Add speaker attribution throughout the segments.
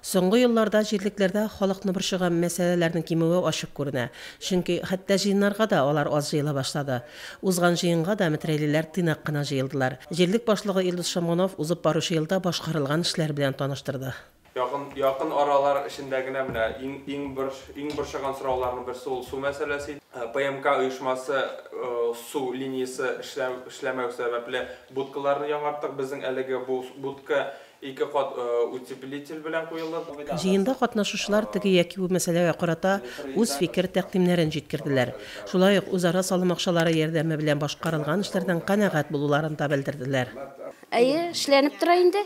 Speaker 1: Соңгы елларда җирлекләрдә халыкны борчыган мәсьәләләрнең кимүе ачык күренә. Чөнки хәтта җыеннарга да алар аз җыела башлады. Узган җыенга да метрәйлеләр тыйнак кына җыелдылар. Җирлек башлыгы Илдус Шамгунов узып баручы елда башкарылган эшләр белән таныштырды. Якын, якын
Speaker 2: аралар эчендә генә менә иң, иң бор, иң борчыган сорауларның берсе ул су мәсьәләсе иде. ПМК оешмасы су линиясе эшләү, эшләмәү сәбәпле, будкаларны яңарттык. Безнең әлеге бу будка Ике кат утеплитель белән куелып. Җыенда катнашучылар
Speaker 1: теге яки бу мәсьәләгә карата үз фикер-тәкъдимнәрен җиткерделәр. Шулай ук үзара салым акчалары ярдәме белән башкарылган эшләрдән канәгать булуларын да белдерделәр. Әйе,
Speaker 3: эшләнеп тора инде.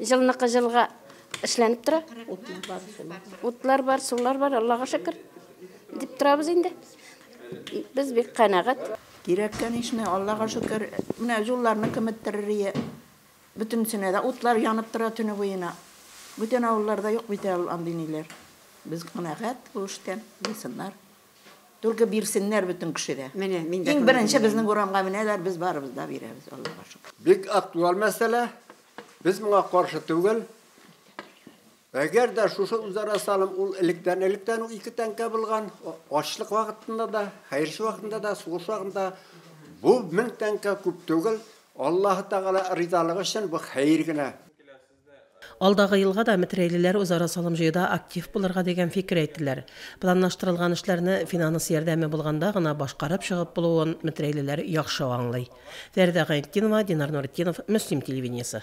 Speaker 3: Җылныкы җылга эшләнеп тора. Утлар бар, сулар бар, Аллага шөкер, дип торабыз инде. Без бик канәгать. Кирәккән ишне,
Speaker 4: Аллага шөкер, менә җулларны кеметтерер ие. Бөтенесенә дә утлар янып тора төне буена. Бүтән авылларда юк бит әле андый ниләр. Без канәгать бу эштән, булсыннар. Түлке бирсеннәр бөтен кеше дә. Менә, мин дә Иң беренче безнең урамга менәләр, без барыбыз да бирәбез, Аллага шөкер. Бик актуаль
Speaker 5: мәсьәлә. Без моңа каршы түгел. Әгәр дә шушы үзара салым ул электән-электән үк ике тәңкә булган, ачлык вакытында да, хәерче вакытында да, сугыш вакытында бу мең тәңкә күп түгел, Аллаһы Тәгалә ризалыгы өчен бу хәер генә.
Speaker 1: Алдагы елга да метрәйлеләр үзара салым җыюда актив булырга дигән фикер әйттеләр. Планлаштырылган эшләрне финанс ярдәме булганда гына башкарып чыгып булуын метрәйлеләр яхшы аңлый. Фәридә Гайнетдинова, Динар Нуретдинов, Мөслим телевидениесе.